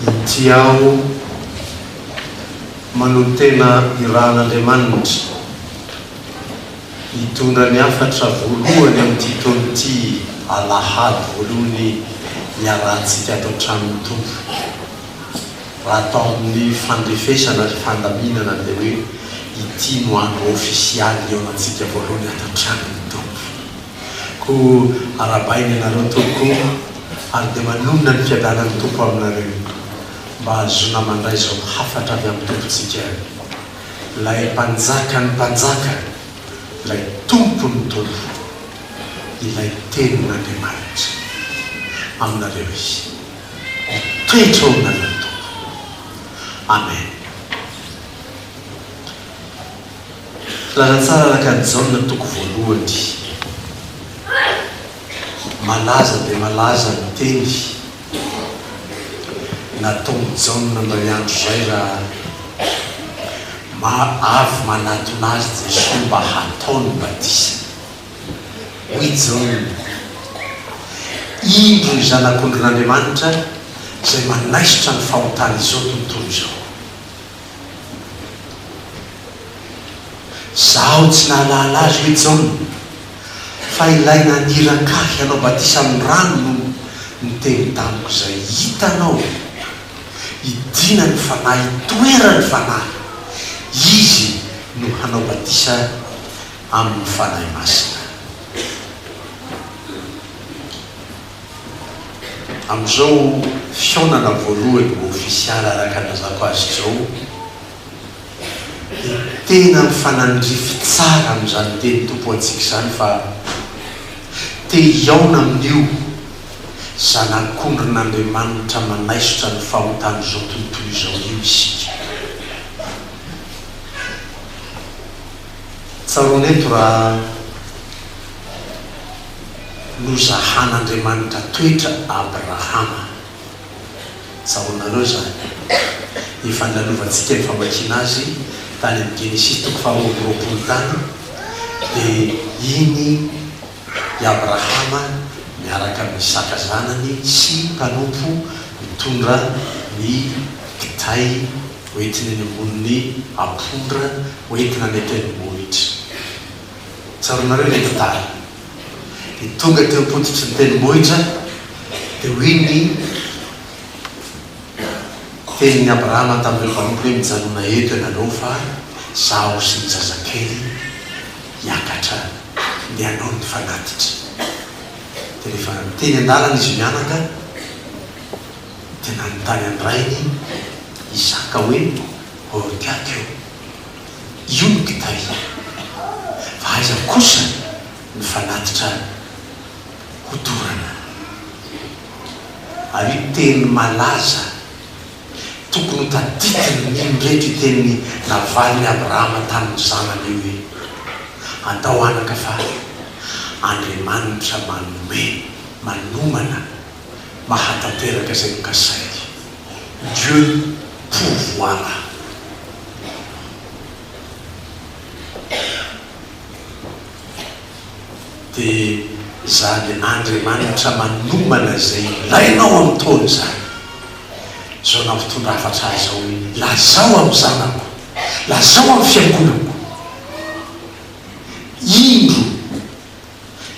Inty aho manotena irahan'Andriamanitra hitondra ny hafatra voalohany amin'ity taona ity alahady voalohany niarahantsika ato an-tranon'ny Tompo. Raha atao amin'ny fandrefesana ary fandaminana dia hoe ity no andro ofisialy hihaonantsika voalohany ato an-tranon'ny Tompo. Koa arabaina ianareo Tompo o, ary dia manonona ny fiadanan'ny Tompo aminareo, mba hahazoana mandray izao hafatra avy amin'ny Tompontsika, Ilay Mpanjakan'ny mpanjaka, Ilay Tompon'ny tompo, Ilay Tenin'Andriamanitra. Aminareo Izy. Mitoetra ao aminareo ny Tompo. Amen. Filaza tsara araka an'i Jaona toko voalohany, malaza dia malaza ny teny nataon'i Jaona indray andro izay raha mba avy manatona azy Jesoa mba hatao ny batisa. Hoy Jaona, Indro ny Zanak'ondrin'Andriamanitra izay manaisotra ny fahotan'izao tontolo izao. Izaho tsy nahalala azy hoe Jaona, fa ilay naniraka ahy hanao batisa amin'ny rano no niteny tamiko izay, Hitanao, hidiana ny Fanahy hitoeran'ny Fanahy, Izy no hanao batisa amin'ny Fanahy Masina. Amin'izao fihaonana voalohany ho ofisialy araka ny nazako azy izao dia tena mifanandrify tsara amin'izany teny tompoantsika izany fa te hihaona amin'io Zanak'ondrin'Andriamanitra manaisotra ny fahotan'izao tontolo izao io isika. Tsaroana eto raha nozahan'Andriamanitra toetra Abrahama. Tsaroanareo izany. Efa nilalovantsika ny famakiana azy tany amin'ny Genesisy toko faharoa amby roapolo tany dia iny i Abrahama miaraka amin'i Isaka zanany sy ny mpanompo mitondra ny kitay hoentiny eny ambonin'ny ampondra hoentina any an-tendrombohitra. Tsaroanareo ilay tantara? Dia tonga teo am-pototry ny tendrombohitra, dia hoy ny tenin'i Abrahama tamin'ireo mpanompo hoe, Mijanona eto ianareo fa izaho sy ny zazakely hiakatra ny hanao ny fanatitra dia rehefa teny an-dalana izy mianaka dia nanontany an'i rainy Isaka hoe Orgaka io io no kitay fa aiza kosa ny fanatitra hodorana ary io teny malaza Tokony ho tadidivin'ny mpino rehetra io tenin'i Navalin'i Abrahama tamin'ny zanany io hoe, Andao anaka fa Andriamanitra manome, manomana, mahatanteraka izay nokasainy. Dieu pourvoira. dia izany Andriamanitra manomana izay ilainao amin'ny taona izany. Izao nampitondra hafatra ahy izao hoe, Lazao amin'ny zanako, lazao amin'ny fiangonako, Indro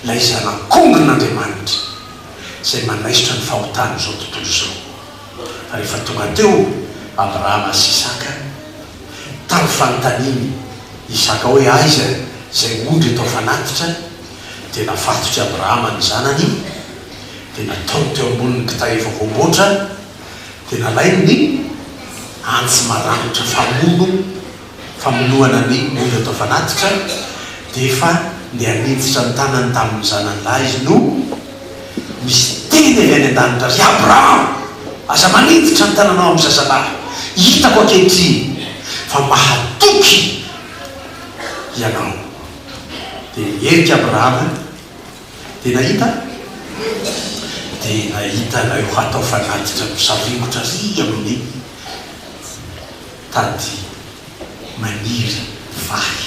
ilay Zanak'ondrin'Andriamanitra izay manaisotra ny fahotan'izao tontolo izao. Fa rehefa tonga teo Abrahama sy Isaka, Tamin'ny fanontaniany Isaka hoe aiza izay ondry eto afanatitra, dia nafatotr'i Abrahama ny zanany, dia nataony teo ambonin'ny kitay efa voamboatra, dia nalainy ny antsy maranitra famono famonoana ny ondry eto afanatitra, dia efa ndeha niditra ny tanany tamin'ny zanany lahy izy no. Misy teny avy any an-danitra, Ry Abrahama, aza maniditra ny tananao amin'ny zazalahy. Hitako ankehitriny fa mahatoky ianao. Dia niherika Abrahama, dia nahita? Dia nahita ilay ho hatao fanatitra misaringotra ary amin'ny tady maniry vahy.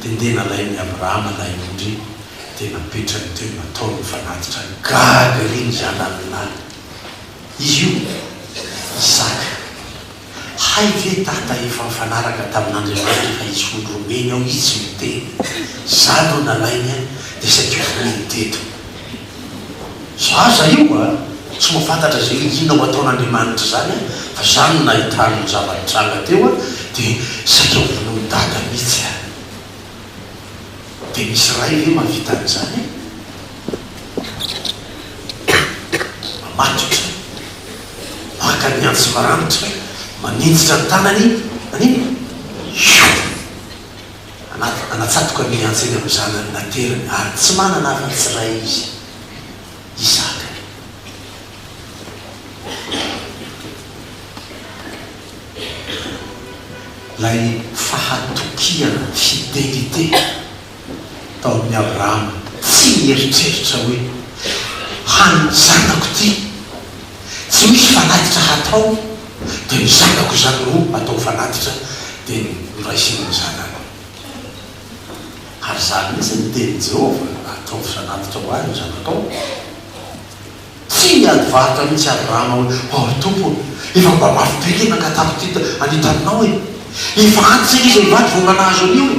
dia ndeha nalain'i Abrahama ilay ondry dia napetrany teo nataony ho fanatitra ny gaga ery ny zanany lahy. Izy io, Isaka. Hay ve Dada efa nifanaraka tamin'Andriamanitra fa hisy ondry homeny ao izy tsy miteny. Za no nalainy an, dia saika ho voany teto. Zaza io a! Tsy mahafantatra izay iniana ho ataon'Andriamanitra izany a! Fa izany no nahitany ny zava-nitranga teo a! Dia saika ho vonoin'i Dada mihitsy a! Dia misy ray ve mahavita an'izany e? Mamatotra, maka ny antsy maranitra, maninjitra ny tanany, manino? Io! Anaty anatsatoka ny antsy eny amin'ny zanany nateriny, ary tsy manana afa-tsy ray izy, Isaka. Ilay fahatokiana, fidelite, tao amin'i Abrahama, tsy nieritreritra hoe, Hany ny zanako ity. Tsy misy fanatitra hatao dia ny zanako izany no atao fanatitra dia noraisiny ny zanako. Ary izany mihitsy no tenin'i Jehovah, Ataovy fanatitra ho ahy ny zanakao. Tsy niady varotra mihitsy Abrahama hoe, Hoy Tompo ô, efa mba mafy be ilay nankatàko teto anie taminao e! Efa antitra anie izay mivady vao mba nahazo an'io e!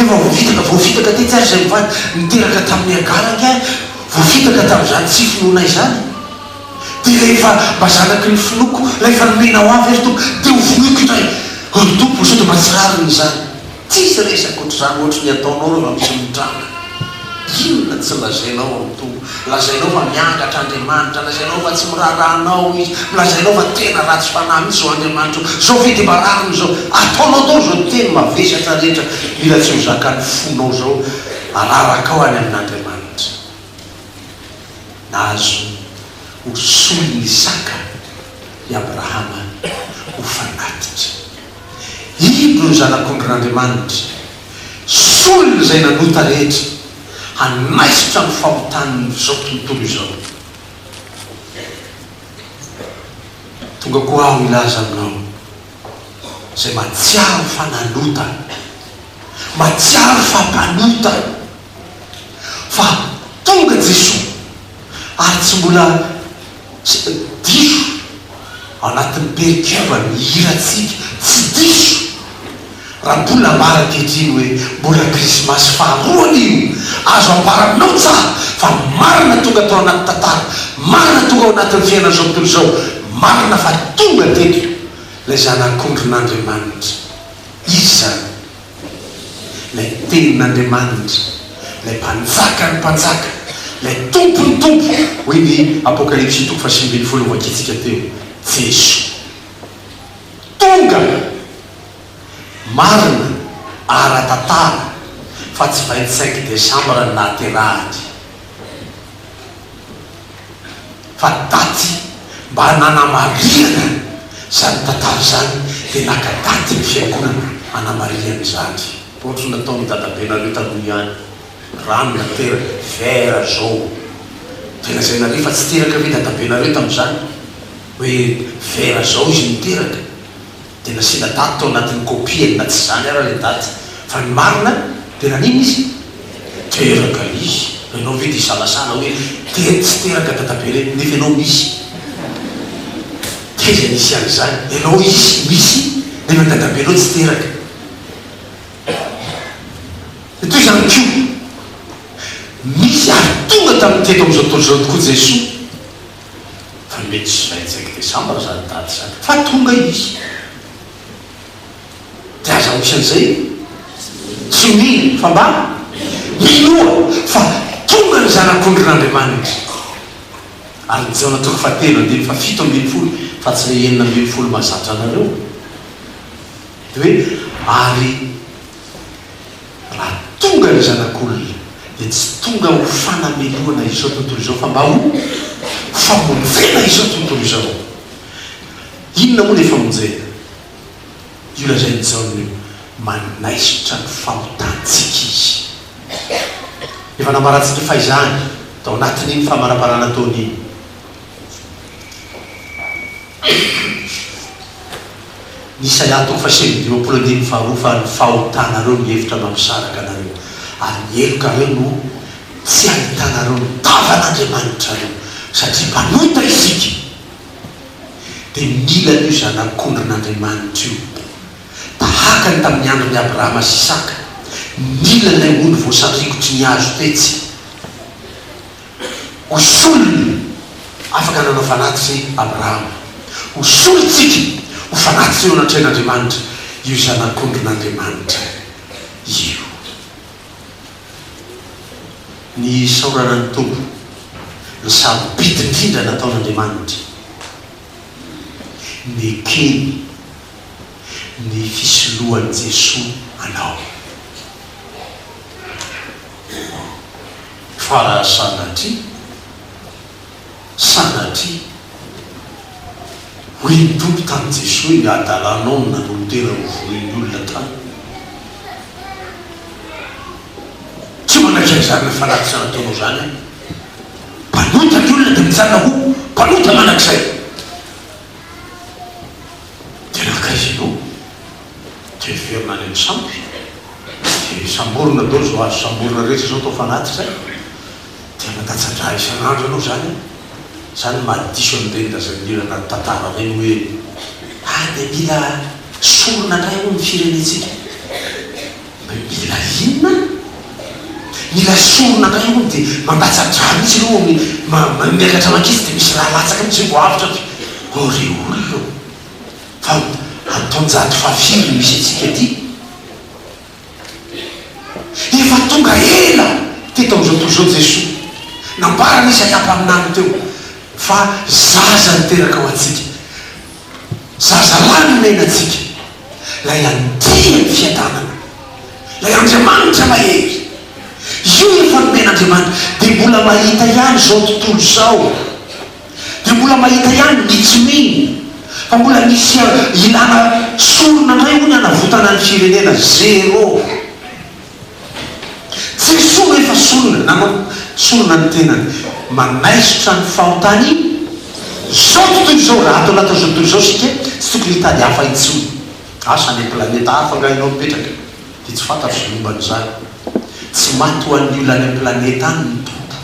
Efa voafitaka, voafitaka tetsy ary izay mivady niteraka tamin'i Hagara ange voafitaka tamin'izany tsy finoanay izany. Dia rehefa mba zanaky ny finoako ilay efa nomena ho avy ary Tompo dia ho vonoiko indray oh ry Tompo sao dia mba tsy rariny izany tsisy resy ankoatr'izany ohatry ny ataonao rehefa misy mitranga inona tsy lazainao ry Tompo lazainao fa miangatra Andriamanitra lazainao fa tsy miraharaha anao izy lazainao fa tena ratsy fanahy mihintsy izao Andriamanitra oh sao ve dia mba rariny izao ataonao daholo izao teny mavesatra rehetra mila tsy ho zakan'ny fonao izao araraka ao any amin'Andriamanitra. Azo ho solon'ny saka i Abrahama ho fanatitra. Indro ny Zanak'ondrin'Andriamanitra, solon'izay nanota rehetra, hanaisotra ny fahotan'izao tontolo izao. Tonga koa aho hilaza aminao, izay mahatsiaro fa nanota, mahatsiaro fa mpanota, Fa tonga Jesoa ary tsy mbola diso anatin'ny perikivany ny hirantsika, tsy diso raha mbola ambara ankehitriny hoe mbola krismasy faharoany io, azo ambara aminao tsara fa marina tonga tao anaty tantara, marina tonga ao anatin'ny fiainan'izao tontolo izao, marina fa tonga teto ilay Zanak'ondrin'Andriamanitra. Izy izany. Ilay Tenin'Andriamanitra, Ilay Mpanjakan'ny mpanjaka, Ilay Tompon'ny tompo, hoy ny Apokalypsy toko fahasivy ambin'ny folo novakintsika teo, Jeso. Tonga! Marina, ara-tantara, fa tsy vingt-cinq décembre no nahaterahany. fa daty mba nanamarinana izany tantara izany dia naka daty ny fiangonana hanamarihany izany. Ohatry ny nataon'ny dadabenareo taloha ihany, rano nateraka, verre jaune, dia lazainareo fa tsy teraka ve dadabenareo tamin'izany? hoe verre zao izy niteraka? dia nasiana daty tao anatin'ny kopiany na tsy izany ara ilay daty fa ny marina dia nanina izy? Teraka izy! Fa ianao ve dia hisalasala hoe tery tsy teraka dadabe re nefa ianao misy? Taiza nisy an'izany? Ianao hisy misy nefa dadabenao tsy teraka? Dia toy izany koa misy ary tonga tamin'ny teto amin'izao tontolo izao tokoa Jesoa. Ary mety tsy zay tsaiky desambra zany daty zany fa tonga izy de aza misy an'izay tsy mino fa mba minoa fa tonga ny zanak'ondrin'Andriamanitra ary ny Jona toko faha telo andininy faha fito ambin'ny folo fa tsy le enina ambin'ny folo mahazatra anareo de hoe ary Raha tonga ny zanak'olona dia tsy tonga ho fanamelohana izao tontolo izao fa mba ho famonjena izao tontolo izao. Inona moa ilay famonjena? Io lazain'i Jaona io, manaisotra ny fahotantsika izy. Efa nambarantsika fahizany tao anatin'iny famaraparana ataony iny. Isaia toko fahasivy amby dimampolo andininy faharoa fa ny fahotanareo mihevitra mba misaraka anareo, ary ny helokareo no tsy ahitanareo ny tavan'Andriamanitrareo, satria mpanota isika, dia mila an'io zanak'ondrin'Andriamanitra io, tahaka ny tamin'ny andron'i Abrahama sy Isaka, mila ilay ondry voasarikotry ny hazo tetsy. Ho solony afaka nanao fanatitra i Abrahama. Ho solontsika ho fanatitra eo anatrehan'Andriamanitra io Zanak'ondrin'Andriamanitra io. Ny isaorana ny Tompo, ny sarobidy indrindra nataon'Andriamanitra, nekeny ny fisoloan'i Jesoa anao. fa raha sanatria, sanatria, hoy ny Tompo tamin'i Jesoa, ny hadalanao no nanolotera ho vonoin'ny olona tamiko. Tsy manaiky an'izany fa raha tsy nataonao izany aho, mpanota ny olona dia mijanona ho mpanota mandrakizay. Dia nankaiza ianao? tsy heverina any amin'ny sampy dia samborina daholo izao azo samborina rehetra izao atao fanatitra dia mandatsa-drà isan'andro ianao izany an! Izany no maha diso an'ireny razan'ila anaty tantara ireny hoe ary dia mila sorona indray hono ny firenentsika hoe mila inona an! Mila sorona indray hono dia mandatsa-drà mihintsy ireo miakatra maketsy dia misy rà latsaka mihintsy vao avotra fa ô ry olona ô! Fa any taonjato fahafiry no misy antsika ity? Efa tonga ela teto amin'izao tontolo izao Jesoa. Nambarany Izy an-kampaminany teo fa zaza niteraka ho antsika, zazalahy nomena antsika, ilay andia ny fiadanana, ilay Andriamanitra mahery. Io no efa nomen'Andriamanitra, dia mbola mahita ihany izao tontolo izao. Dia mbola mahita ihany ny tsy mino fa mbola misy ilana sorona indray hono hanavotana ny firenena. Zero. Jesoa no efa sorona nanao sorona ny tenany. Manaisotra ny fahotany izao tontolo izao. Raha ato anatin'izao tontolo izao isika tsy tokony hitady hafa intsony. Asa any am-planeta hafa angaha ianao mipetraka dia tsy fantatro izay momba an'izany. Tsy maty ho an'ny olona any am-planeta any ny Tompo.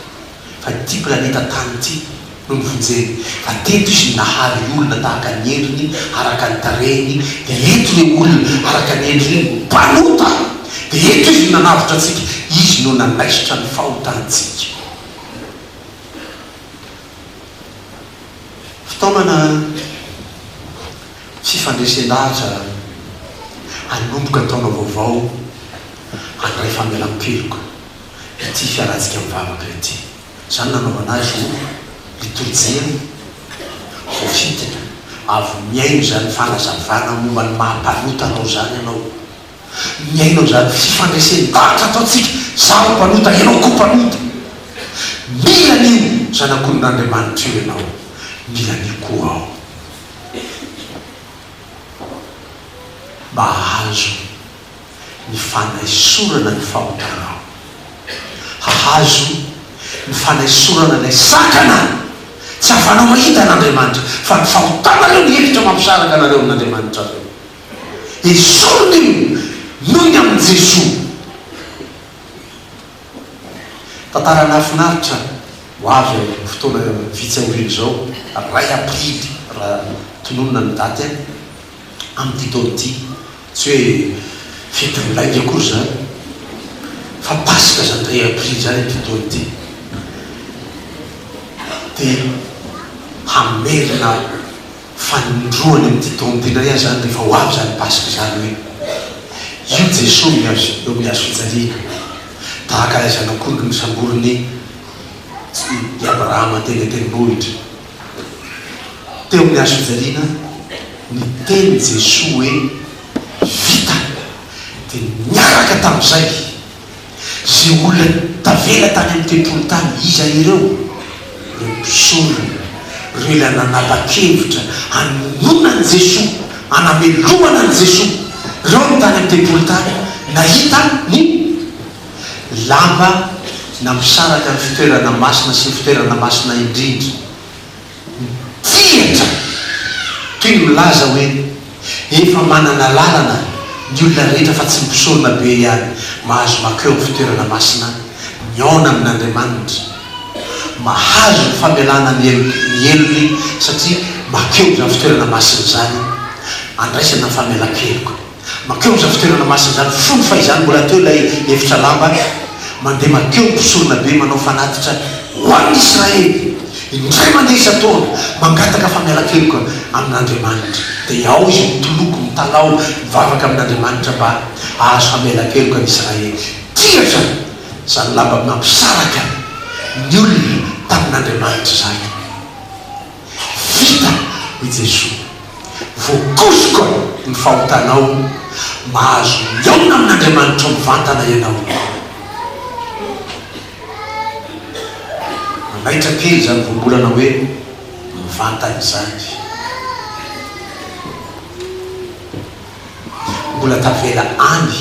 fa ity planeta Tany ity no novonjeny, fa teto izy no nahary olona tahaka ny endriny araka ny tarehiny, dia eto ireo olona araka ny endriny ireo no mpanota, dia eto izy no nanavotra antsika, izy no nanaisotra ny fahotantsika. Fitaomana fifandresen-dahatra hanomboka taona vaovao handray famelan-keloka. dia tsy hisy hanajika ny vavaka ry ty. Izany nanaovana azy ho litorjian'ny voafitina. Avy mihaino izany fanazavana momba ny maha-mpanota anao izany ianao. Mihaino an'izany fifandresen-davitra ataontsika, izaho mpanota, ianao koa mpanota. Mila an'io Zanak'olon'Andriamanitra io ianao, mila an'io koa aho. Mba hahazo. ny fanaisorana ny fahotanaho. Hahazo ny fanaisorana ilay sakana tsy hahafanao mahita an'Andriamanitra, fa ny fahotanareo ny hevitra mampisaraka anareo amin'Andriamanitrareo. Esorina io noho ny amin'i Jesoa. Tantara nahafinaritra ho avy amin'io fotoana vitsy aoriana izao, iray Aprily raha tononina ny daty, amin'ity taona ity. Tsy hoe fety milainga akory izany fa Paska Zandry Aprily izany ity taona ity dia hamerina fanindroany amin'ity taona ity indray aza izany rehefa ho avy izany Paska izany hoe io Jesoa eo amin'ny hazo fijaliana tahaka ilay zanak'ondry nosamborin'i i Abrahama teny an-tendrombohitra. Teo amin'ny hazofijaliana, niteny Jesoa hoe, Vita! Dia niaraka tamin'izay, izay olona tavela tany amin'ny tempoly tany. Iza ireo? Ireo mpisorona, ireo ilay nanapa-kevitra hanohana an'i Jesoa, hanamelomana an'i Jesoa. Ireo no tany amin'ny tempoly tany, nahita ny. lamba nampisaraka ny fitoerana masina sy ny fitoerana masina indrindra. Mitsihatra toy ny milaza hoe efa manana lalana ny olona rehetra fa tsy ny mpisorona be ihany mahazo mankeo amin'ny fitoerana masina mihaona amin'Andriamanitra, mahazo ny famelana ny helony satria mankeo izany fitoerana masina izany andraisana ny famelan-keloka. Mankeo amin'izany fitoerana masina izany, fony fahizany mbola teo ilay efitra lamba, mandeha mankeo ny mpisorona be manao fanatitra ho an'ny Israely, indray mandeha isan-taona, mangataka famialan-keloka amin'Andriamanitra. Dia ao izy mitoloko, mitalaho, mivavaka amin'Andriamanitra mba hahazo famialan-keloka ny Israely. Dihatra izany lamba nampisaraka ny olona tamin'Andriamanitra izany. Vita, hoy Jesoa. Voakosoko ny fahotanao. Mahazo mihaona amin'Andriamanitro mivantana ianao. Manaitra kely izany voambolana hoe mivantana izany. Mbola tavela any,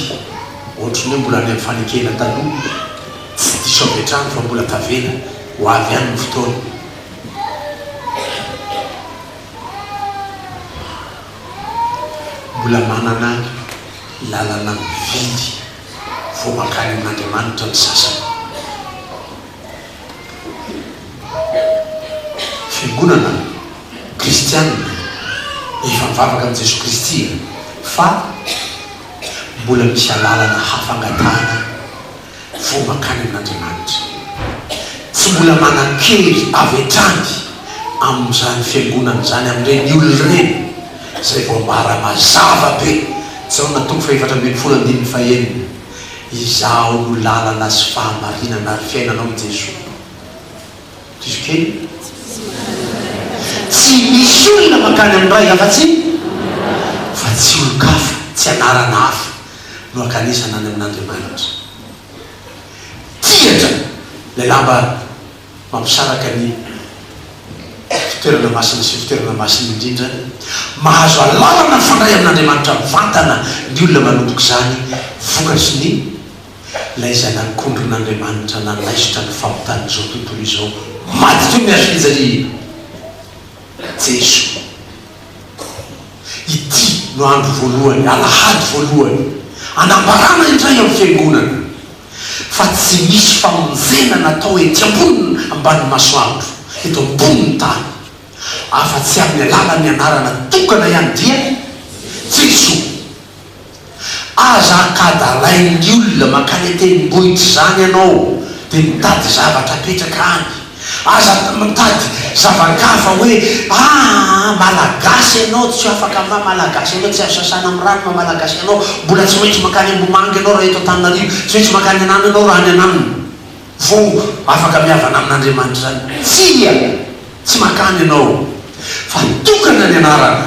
ohatry ny hoe mbola any amin'ny fanekena taloha. Tsy diso avy hatrany fa mbola tavela. Ho avy ihany ny fotoana. Mbola manana lalana mividy vao mankany amin'Andriamanitra ny sasany. Fiangonana kristianina efa mivavaka amin'i Jesoa Kristy e! fa mbola misy alalana hafa angatahana. vao mankany amin'Andriamanitra. Tsy mbola manan-kery avy hatrany amin'izany fiangonana izany, amin'ireny olona ireny, izay voambara mazava be, Jaona toko fahefatra ambin'ny folo andininy fahenina, Izaho no lalana sy fahamarinana ary fiainana hoy Jesoa. Diso kely e! Tsy misy olona mankany amin'ny Ray afa-tsy fa tsy olon-kafa, tsy anarana hafa. no ankanesana any amin'Andriamanitra. Tian-dry ilay lamba mampisaraka ny fitoerana masina sy fitoerana masina indrindra. Mahazo alalana mifandray amin'Andriamanitra mivantana ny olona manomboka izany, vokatry ny ilay izay nankondron'Andriamanitra nanaisotra ny fahotan'izao tontolo izao maty teo ny hazo fijaliana, Jeso. Ity no andro voalohany, alahady voalohany, anambarana indray amin'ny Fiangonana fa tsy misy famonjena natao ety ambony ambanin'ny masoandro, eto ambonin'ny tany, afa-tsy amin'ny alalan'ny anarana tokana ihany, dia Jesoa. Aza ankadalain'ny olona mankany an-tendrombohitra izany ianao dia mitady zavatra apetraka any. Aza mitady zava-kafa hoe aa malagasy ianao tsy afaka maha malagasy ianao, tsy azo sasana amin'ny rano maha malagasy ianao, mbola tsy maintsy mankany Ambohimanga ianao raha eto Antananarivo, tsy maintsy mankany an'Ano ianao raha any an'Ano vao afaka mihavana amin'Andriamanitra izany. Tsia! Tsy mankany ianao fa tokana ny anarana.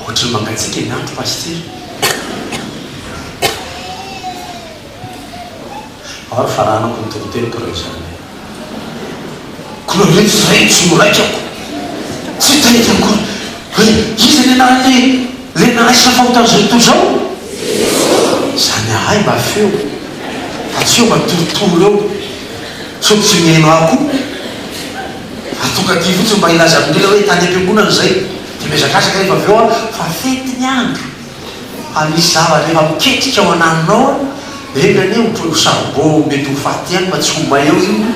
Ohatry ny mangatsiaka ny andro Pasitera. Ao ary faranako ny toriteniko raha izany. Koa ireto izay tsy ho raikako. Tsy tena izy akory. Hoe iza ny anaran'ilay ilay nanaisana fahotana izao tontolo izao? Izany ahay mba feo fa tsy eo mba torotoro eo sao tsy mihaino ahy koa. Atonga aty fotsiny mba hilaza amin'ny olona hoe tany am-piangonana izay dia mihazakazaka rehefa avy eo an, fa fety ny andro, fa misy zavatra efa miketrika ao ananonao an, enga anie ohatry ho saribao mety ho faty ihany fa tsy ho may ao io,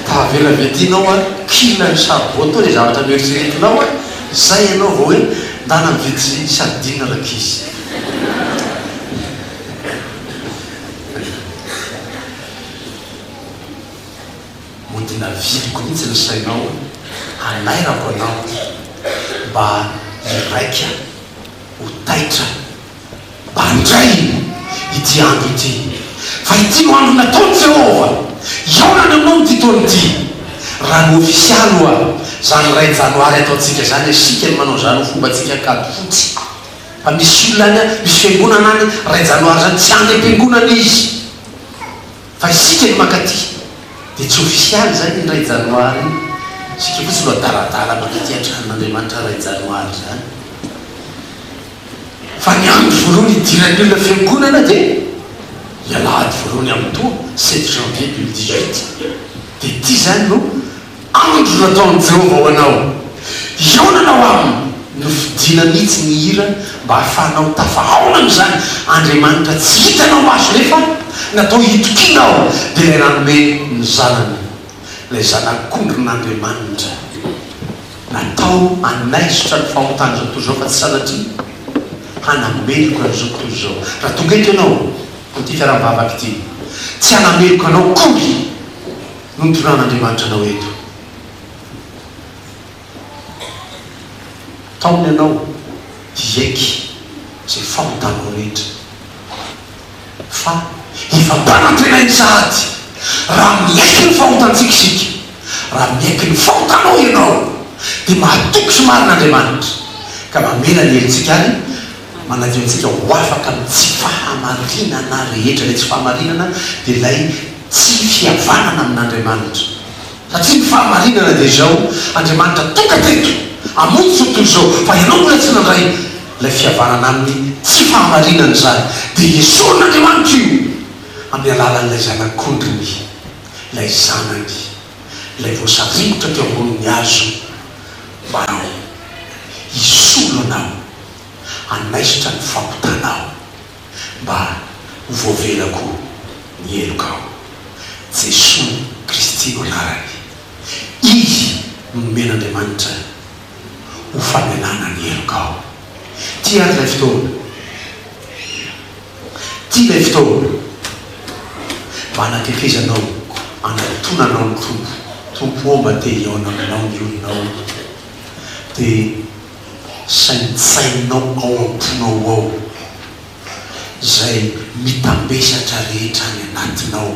tavela avy aty ianao an, kila io saribao tao izay zavatra noeritreretinao an, izay ianao vao hoe ndana mividy sardine rankizy. Mody navidiko mihitsy ny sainao hanairako anao mba hiraika ho taitra Mba andraino ity andro ity Fa ity no andro nataon'i Jehovah Hihaona ny hamono ity taona ity Raha ny ofisialy hoa Izany iray janoary ataontsika izany Isika no manao izany ho fombantsika Ankady fotsy Fa misy olona any misy fiangonana any iray janoary izany Tsy any am-piangonana izy Fa isika ny mankaty dia tsy ofisialy izany ny iray janoary iny, isika fotsiny no adaladala mankaty an-tranon'Andriamanitra iray janoary izany. Fa ny andro voalohany hidiran'ny olona fiangonana dia ny alahady voalohany amin'toa, sept janvier deux mille dix huit, dia ity izany no. Andro nataon'i Jehovah ho anao. Hihaonana ho aminy. Nofidina mihitsy ny hira mba hahafahanao tafahaona amin'izany Andriamanitra tsy hitanao maso nefa natao hitokiana ao dia ilay nanome ny Zanany, ilay Zanak'ondrin'Andriamanitra natao hanaisotra ny fahotan'izao tontolo izao fa tsy sanatria hanameloka an'izao tontolo izao. Raha tonga eto ianao amin'ity fiaraha-mivavaka ity, tsy hanameloka anao akory. no nitoran'Andriamanitra anao eto. Taony ianao hiaiky izay fahotanao rehetra. Fa hifantanan-tenainy sahady raha miaiky ny fahotantsika isika. Raha miaiky ny fahotanao ianao, dia mahatoky sy marina Andriamanitra, ka mamela ny helotsika any. Manadio antsika ho afaka amin'ny tsy fahamarinana rehetra. Ilay tsy fahamarinana dia ilay tsy fihavanana amin'Andriamanitra. Satria ny fahamarinana dia izao, Andriamanitra tonga teto hamonjy izao tontolo izao, fa ianao mbola tsy nandray ilay fihavanana amin'ny tsy fahamarinana izany. Dia esorin'Andriamanitra io amin'ny alalan'ilay Zanak'ondriny, ilay Zanany, ilay voasaringotra teo ambonin'ny hazo, mba hisolo anao. Hanaisotra ny fampitanao, mba ho voavela koa ny helokao. Jesoa Kristy no anarany. Izy no nomen'Andriamanitra ho famelana ny helokao. Ty ary ilay fotoana. Ty ilay fotoana mba hanatetezanao, hanantonanao ny Tompo. Tompo ô, mba te-hihaona aminao ny olonao. Dia. saintsainao ao am-ponao ao, izay mitambesatra rehetra any anatinao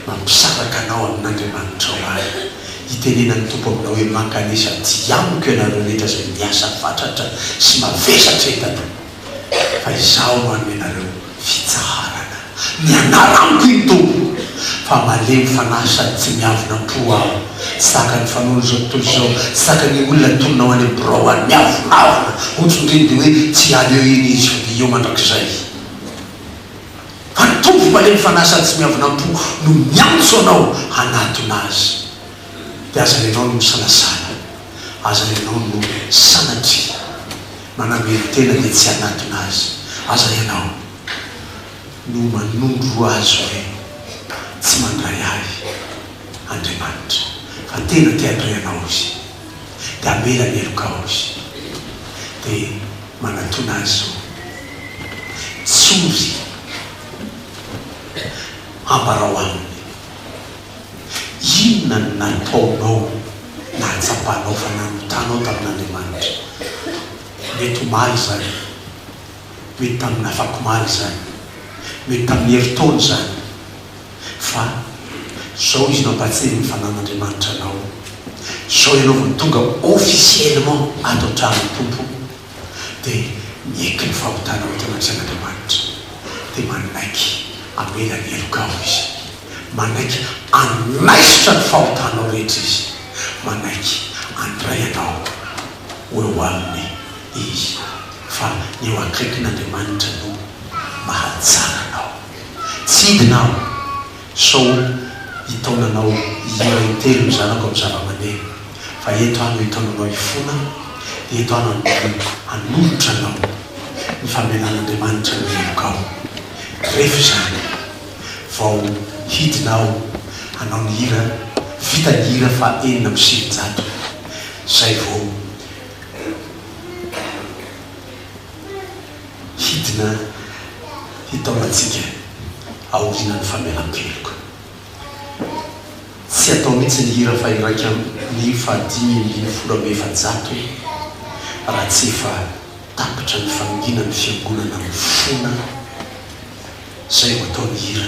mampisaraka anao amin'Andriamanitrao ary itenenan'ny Tompo aminao hoe, Mankanesa aty amiko ianareo rehetra izay miasa fatratra sy mavesatra entana. fa izaho no hanome anareo fitsaharana. Mianara amiko iny Tompo, fa malemy fanahy sady tsy miavona am-po aho. Tsy tahaka ny fanaon'izao tontolo izao, tsy tahaka ny olona atonina ho any amin'ny birao any, miavonavona, hotsondriany dia hoe tsy hiala eo iny izy fa dia eo mandrakizay. Fa ny Tompo malemy fanahy sady tsy miavona am-po no miantso anao hanatona Azy. Dia aza renao ny misalasala, aza renao no sanatria Manamelo tena dia tsy hanatona azy. Aza ianao no manondro azy hoe tsy mandray ahy Andriamanitra fa tena te handray anao Izy dia hamela ny heloka ao Izy dia manatona azy izao tsory ambarao aminy. Inona no nataonao nahatsapanao fa nanotanao tamin'Andriamanitra? Mety omaly izany, mety tamin'ny afakomaly izany, mety tamin'ny herintaona izany, fa izao izy nampahatsiahy ny fanan'Andriamanitra anao, izao ianao vao tonga officiellement ato an-tranon'ny Tompo. dia nieky ny fahotana ho eto anaty sain'Andriamanitra, dia manaiky hamela ny heloka ao izy, manaiky hanaisotra ny fahotanao rehetra izy, manaiky handray anao ho eo aminy izy, fa ny eo akaikin'Andriamanitra no mahatsara anao. Tsy hidina ao. Sao hitaona anao hihira intelo ny zanako amin'ny zavamaneno, fa eto aho no hitaona anao hifona, eto aho no hanodinako hanolotra anao ny famelan'Andriamanitra ny helokao. Rehefa izany vao hidina aho hanao ny hira, vita ny hira faha enina amby sivinjato, izay vao. hidina hitaomantsika aorianan'ny famelan-keloka. Tsy atao mihitsy ny hira faha-iraika ambin'ny fahadimy ambin'ny folo amby efajato raha tsy efa tapitra ny fanonginan'ny fiangonana mifona izay ho ataon'ny hira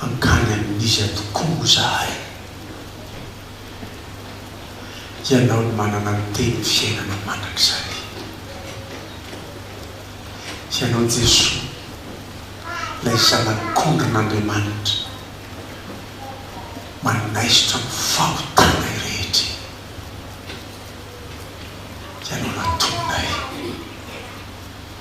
Hankany amin'iza tokoa moa izahay? Ianao no manana ny tenin'ny fiainana mandrakizay. Ianao Jesoa, ilay Zanak'ondrin'Andriamanitra, manaisotra ny fahotanay rehetra e! Ianao no antononay.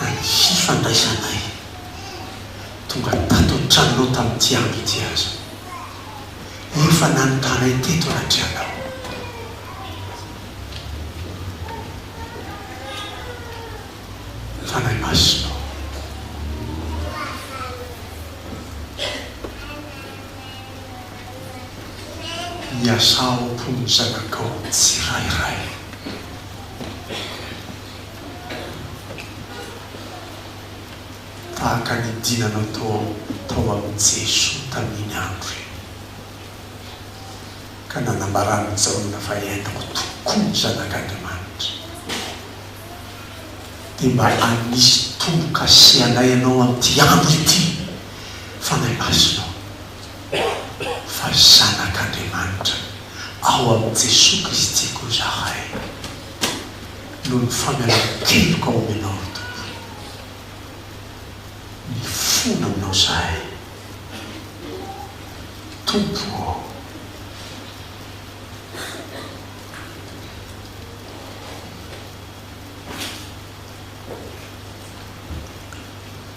na ny fifandraisanay tonga tato an-tranonao tamin'ity andro ity aza. Efa nanontanay teto anatrehanao. Fanahy Masina ô. Miasà ao am-pon'ny zanakao tsirairay. Tahaka ny dinanao tao tao amin'i Jesoa tamin'iny andro iny, ka nanambaran'i Jaona fa entiko tokoa ny Zanak'Andriamanitra, dia mba hanisy tombo-kase anay ianao amin'ity andro ity, Fanahy Masinao. fa ry zanak'Andriamanitra ao amin'i Jesoa Kristy koa izahay, noho ny famelan-keloka omenao ry Tompo. Mifona aminao izahay Tompo ô.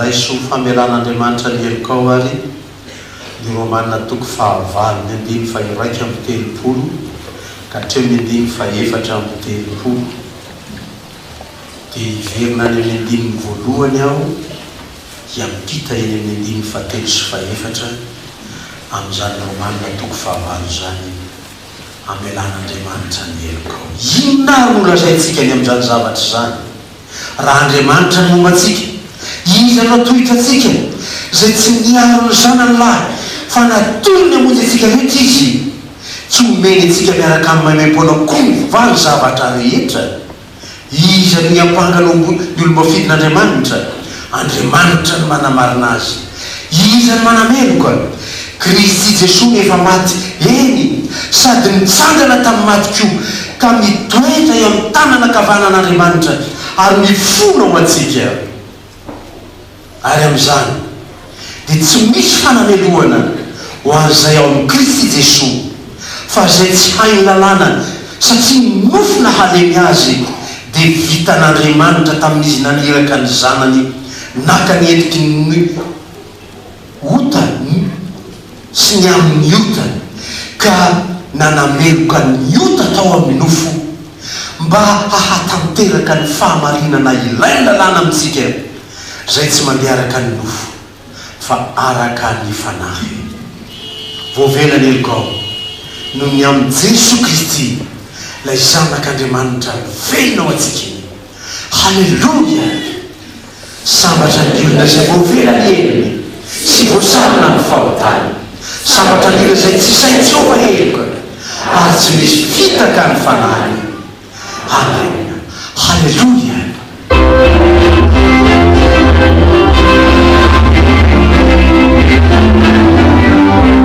Raiso ho famelan'Andriamanitra ny helokao àry ny Romana toko fahavalo ny andininy fahiraika amby telopolo ka hatreo ny andininy fahefatra amby telopolo. dia hiverina any amin'ny andininy voalohany aho hiampita eny amin'ny andininy fahatelo sy fahefatra amin'izany Romana toko fahavalo izany, Amelan'Andriamanitra ny helokao. Inona ary no lazaintsika ny amin'izany zavatra izany? Raha Andriamanitra ny momba antsika, Iza no hatohitra antsika? Izay tsy niaro ny zanany lahy, fa natory ny hamonjy antsika rehetra Izy. Tsy omeny antsika miaraka amin'ny maimaim-poana koa ny valo zavatra rehetra? Iza no hiampanga ny omby ny olom-bafidin'Andriamanitra? Andriamanitra no manamarina azy. Iza no manameloka? Kristy Jesoa no efa maty, eny, sady nitsangana tamin'ny maty koa, ka mitoetra eo amin'ny tanana ankavanan'Andriamanitra ary mifona ho antsika. Ary amin'izany dia tsy misy fanamelohana ho an'izay ao amin'i Kristy Jesoa, fa izay tsy hainy lalàna satria ny nofo nahalemy azy dia vitan'Andriamanitra tamin'izy naniraka ny Zanany naka ny endriky ny. otany sy ny amin' ny otany, ka nanameloka ny ota tao amin' ny nofo, mba hahatanteraka ny fahamarinana ilay lalàna amintsika, izay tsy mandeha araka ny nofo, fa araka ny fanahy. Voavela ny helokao, noho ny amin' i Jesoa Kristy, ilay Zanak' Andriamanitra velona ho antsika. Haleloia! Sambatra ny olona izay voavela ny helony sy voasarona amin'ny fahotany. Sambatra ny olona izay tsy sahy tsoaka heloka ary tsy misy fitaka ny fanahiny. Amen. Haleloia!